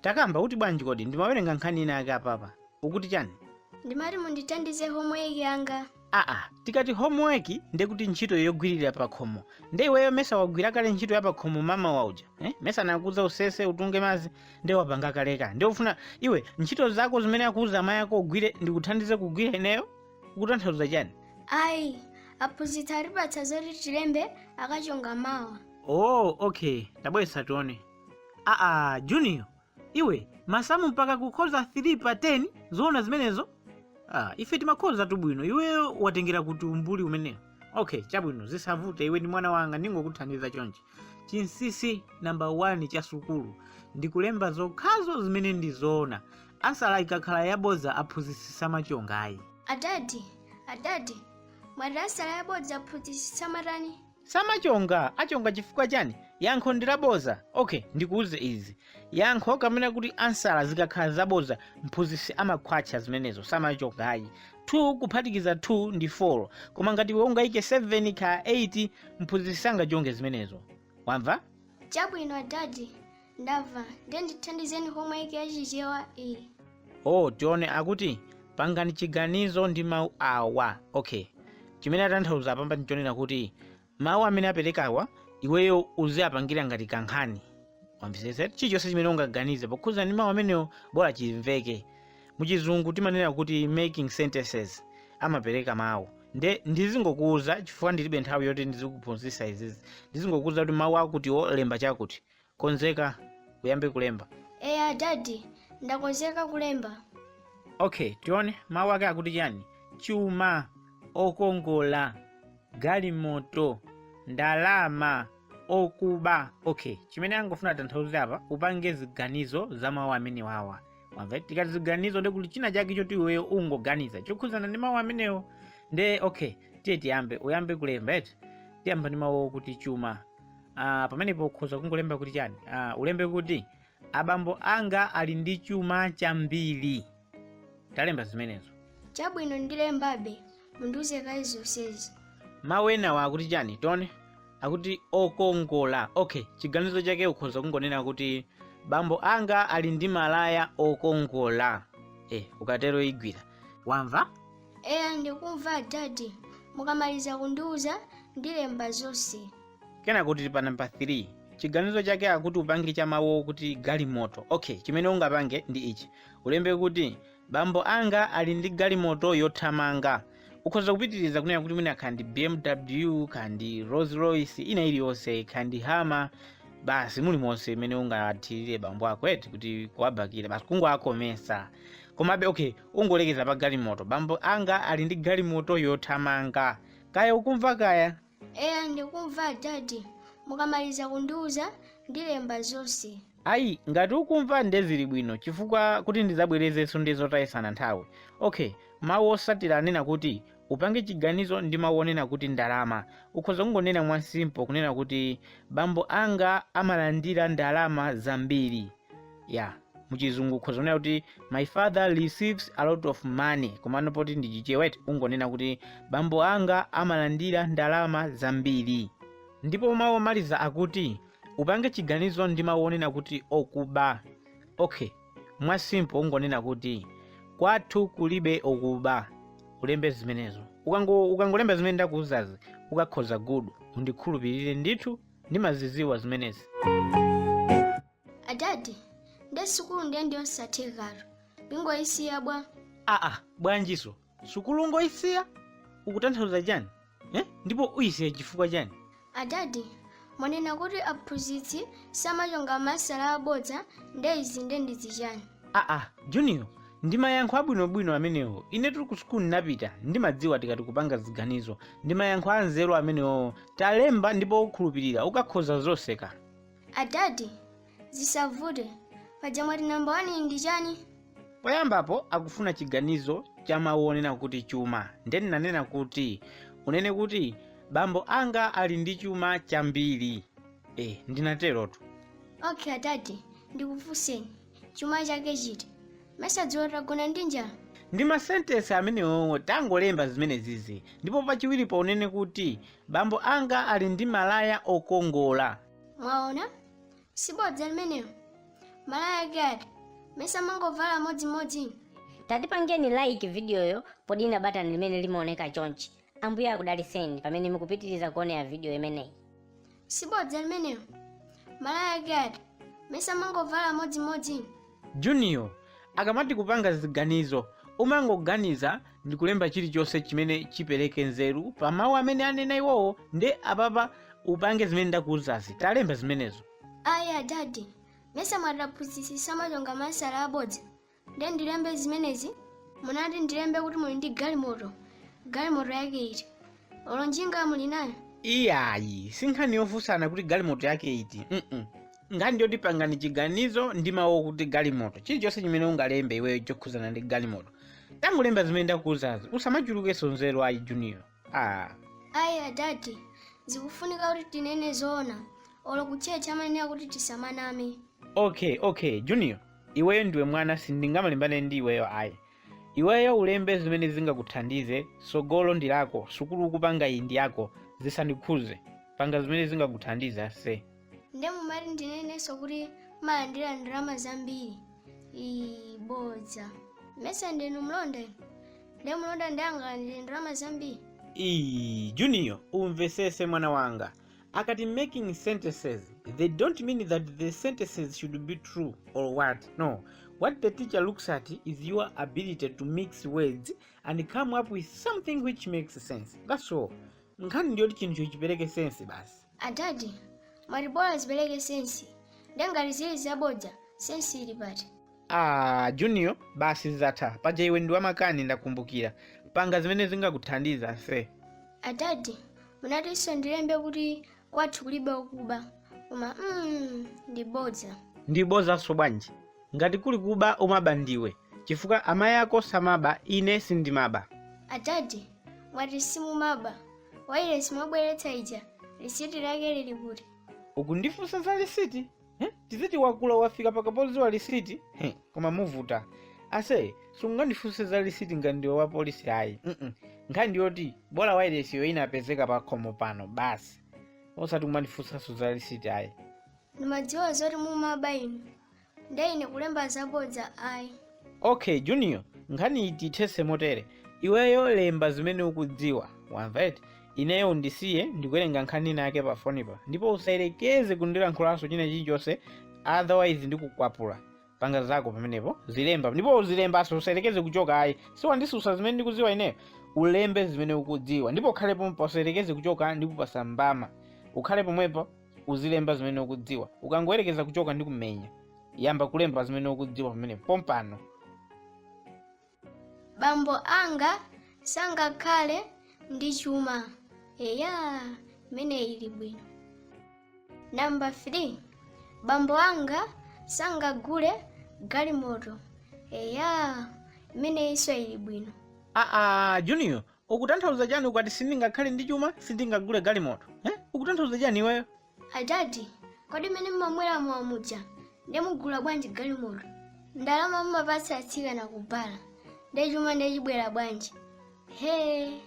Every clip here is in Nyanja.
takamba kuti bwanji kodi ndimawerenga nkhani ina yake apapa ukuti chani ndimati mundithandize homework yanga aa tikati homework nde kuti ntchito yogwirira pakhomo nde iweyo mesa wagwira kale ntchito ya pakhomo mmawa uja eh? mesa ndakuuza usese utunge madzi nde wapanga kaleka nde ufuna iwe ntchito zako zimene akuuza amayi ako ugwire ndikuthandize kugwira ineyo ukutanthauza chani ayi aphunzitsi atipatsa zoti tilembe akachonga mawa oh okay tabweretsa tione aa junior iwe masamu mpaka kukhoza 3 pa 10 zoona zimenezo ah, ife timakhoza tu bwino iweyo watengera kuti umbuli umenewo okay chabwino zisavute iwe ndi mwana wanga ndingokuthandiza chonchi chinsisi namba 1 cha sukulu ndikulemba zokhazo zimene ndi zoona ansala ikakhala yabodza aphunzitsi samachonga ayi adadi adadi mwati ansala yabodza aphunzitsi samatani samachonga achonge chifukwa chani yankho ndi labodza okay ndikuuze izi yankho kapena kuti ansala zikakhala zabodza mphunzitsi amakhwatcha zimenezo samachonga ayi 2 kuphatikiza 2 ndi 4 koma ngati iwe ungayike 7 kaya 8 mphunzitsi sangachonge zimenezo wamva chabwino dadi ndamva ndiye ndithandizeni homework ya chichewa iyi oh tione akuti pangani chiganizo ndi mawu awa okay chimene atanthauza apapa ndichonena kuti mawu amene aperekawa iweyo uziwapangira ngati kankhani wamvetsetsa chilichonse chimene ungaganize pokhuza ndi mawu amenewo bola chimveke muchizungu timanena kuti making sentences amapereka mawu nde ndizingokuuza chifukwa ndilibe nthawi yoti ndizikuphunzitsa izizi ndizingokuuza kuti mawu akutiwo lemba chakuti konzeka uyambe kulemba eya dadi ndakonzeka kulemba okay tione mawu ake akuti chani chuma okongola galimoto ndalama okuba okay chimene akufuna kutanthauza apa upange ziganizo za mawu amenewawa wamva tikati ziganizo ndi kuti china chake choti iweyo ungoganiza chokhudzana ndi mawu amenewo nde okay tiye tiyambe uyambe kulemba eti tiyamba ndi mawu okuti chuma Ah, pamenepo ukhoza kungolemba kuti chani ah, ulembe kuti abambo anga ali ndi chuma chambiri talemba zimenezo chabwino ndilembabe mundiuze kaye zonsezi mawu enawa akuti chani tione akuti okongola okay chiganizo chake ukhoza kungonena kuti bambo anga ali ndi malaya okongola eh, ukatero igwira wamva eya ndikumva adadi mukamaliza kundiuza ndilemba zonse kenako tili pa namba 3 chiganizo chake akuti upange cha mawu okuti galimoto okay chimene ungapange ndi ichi ulembe kuti bambo anga ali ndi galimoto yothamanga ukhoza kupitiriza kunena kuti mwina kandi bmw kandi rolls royce ina iliyonse kandi hama basi mulimonse imene ungathirire bambo ako eti kuti kuwabakira basi kungowakomesa komabe okay ungolekeza pa galimoto bambo anga ali ndi galimoto yothamanga kaya ukumva kaya eya ndikumva adadi mukamaliza kundiuza ndilemba zonse ayi ngati ukumva nde zili bwino chifukwa kuti ndizabwerezenso ndi zotayisana nthawi okay mawu osatira anena kuti upange chiganizo ndi mawu onena kuti ndalama ukhoza kungonena mwasimpo kunena kuti bambo anga amalandira ndalama zambiri ya muchizungu ukhoza kunena kuti my father receives a lot of money komano poti ndi chichewa eti ungonena kuti bambo anga amalandira ndalama zambiri ndipo mawu omaliza akuti upange chiganizo ndi mawu onena kuti okuba okay mwa simple ungonena kuti kwathu kulibe okuba ulembe zimenezo Ukango- ukangolemba zimene ndakuuzazi ukakhoza gudu undikhulupirire ndithu ndimaziziwa zimenezi adadi nde sukulu ndiye ndiyosathekatu ndingoyisiya bwa aa bwanjinso sukulu ngoyisiya ukutanthauza chani eh? ndipo uyisiya chifukwa chani adadi mwanena kuti aphunzitsi samachonga ma ansala abodza nde izi ndi zichani aa junior ndi mayankho abwinobwino amenewo ine tili ku sukulu ndinapita ndimadziwa tikati kupanga ziganizo ndi mayankho anzeru amenewowo talemba ndipo ukhulupirire ukakhoza zonse ka adadi zisavute paja mwati namba wani ndi chani poyambapo akufuna chiganizo cha mawu onena kuti chuma nde ndinanena kuti unene kuti bambo anga ali ndi chuma chambiri e ndinaterotu okay adadi ndikufunseni chuma chake chiti mesa dzulo tagona ndi njala ndi masentensi amenewowo tangolemba zimenezizi ndipo pachiwiri paunene kuti bambo anga ali ndi malaya okongola mwaona sibodza limenelo malaya ake ati mesa mumangovala amodzimodzi tatipangeni like vidiyoyi podina batani limene limaoneka chonchi ambuye akudaliseni pamene mukupitiriza kuonera vidiyo imeneyi sibodza limenelo malaya ake ati mesa mumangovala amodzimodzi junior akamati kupanga ziganizo umangoganiza ndi kulemba chilichonse chimene chipereke nzeru pa mawu amene anena iwowo nde apapa upange zimene ndakuuzazi talemba zimenezo ayi adadi mesa mwati aphunzitsi samachonga ma ansala abodza ndiye ndilembe zimenezi munati ndilembe kuti muli ndi galimoto galimoto yake iti olo njinga muli nayo iyayi si nkhani yofunsana kuti galimoto yake iti mm nkhani ndi yoti pangani chiganizo ndi mawu okuti galimoto chilichonse chimene ungalembe iweyo chokhudzana ndi galimoto tangolemba zimene ndakuuzazi usamachulukenso nzeru ayi junior ah. ayi adadi zikufunika kuti tinene zoona olo kutchecha amanena kuti tisamaname okay okay junior Iweyo ndiwe mwana sindingamalimbane ndi iweyo ayi. Iweyo ulembe zimene zingakuthandize, tsogolo ndi lako, sukulu ukupanga iyi ndi yako, zisandikhuze. Panga zimene zingakuthandize ase. nde mumati ndinenenso kuti mumalandira ndalama zambiri ii bodza mesa ndinu mlonda inu nde mlonda nde angalandire ndalama zambiri Iii, Junior, umvesese mwana wanga. akati making sentences they don't mean that the sentences should be true or what no what the teacher looks at is your ability to mix words and come up with something which makes sense that's all nkhani ndiyoti chinthucho chipereke sense basi adadi mwati bola zipereke sensi ndengati zili zabodza sensi ili pati Ah, Junior, basi zatha. Paja iwe ndi wamakani ndakumbukira. Panga zimene zingakuthandiza ase. adadi munatinso ndilembe kuti kwathu kulibe okuba koma mm, ndi bodza Ndi bodzanso bwanji? Ngati kuli kuba umaba ndiwe. Chifukwa amayi ako samaba, ine sindimaba. adadi mwati simumaba wailesi mwabweretsa ija lisiti lake lili kuti Ukundifunsa za lisiti? Hmm? Lisiti wakula wafika pakapodziwa lisiti Hmm, koma muvuta ase sungandifunse za lisiti ngati ndiwe wa polisi ayi Mm-mm. nkhani ndi yoti bola wairesiyo inapezeka pa khomo pano basi osati kumandifunsanso za lisiti ayi ndimadziwa zoti mumaba inu nde ine kulemba zabodza ayi ok junior nkhaniyi tiyithese motere iweyo lemba zimene ukudziwa wamva eti ineyo undisiye ndikuwerenga nkhani ina yake pa fonipa ndipo usayerekeze kundilankhulanso china chilichonse otherwise ndikukwapula panga zako pamenepo uzilemba ndipo uzilembaso usayerekeze kuchoka ayi siwandisusa zimene ndikudziwa ineyo ulembe zimene ukudziwa ndipo ukhale pomwepo usayerekeze kuchoka ndikupasa mbama ukhale pomwepo uzilemba zimene ukudziwa ukangoyerekeza kuchoka ndikumenya yamba kulemba zimene ukudziwa pamene pompano bambo anga sangakhale ndi chuma eya imeneyi ili bwino namba 3 bambo anga sangagule galimoto eya imeneyinso ili bwino aa junior ukutanthauza chani ukati sindingakhale ndi chuma sindingagule galimoto eh? ukutanthauza chani iweyo adadi kodi mmene mumamwera mowa muja nde mugula bwanji galimoto ndalama mumapatsa atsikana ku bala nde chuma nde chibwera bwanji he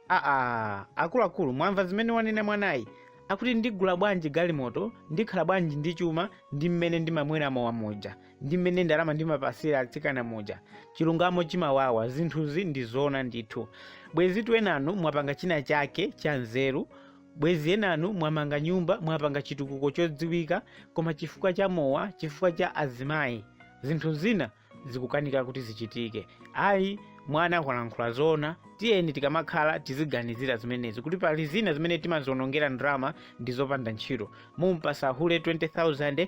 aa akuluakulu mwamva zimene wanena mwanayi akuti ndigula bwanji galimoto ndikhala bwanji ndi chuma ndi mmene ndimamwera mowa muja ndi mmene ndalama ndimapasira atsikana muja chilungamo chimawawa zinthuzi ndi zoona ndithu bwezitu enanu mwapanga china chake cha nzeru bwezi enanu mwamanga nyumba mwapanga chitukuko chodziwika koma chifukwa cha mowa chifukwa cha azimayi zinthu zina zikukanika kuti zichitike ayi mwana akulankhula zoona tiyeni tikamakhala tiziganizira zimenezi kuti pali zina zimene timazionongera ndalama ndi zopanda ntchito mumpasa hule 20000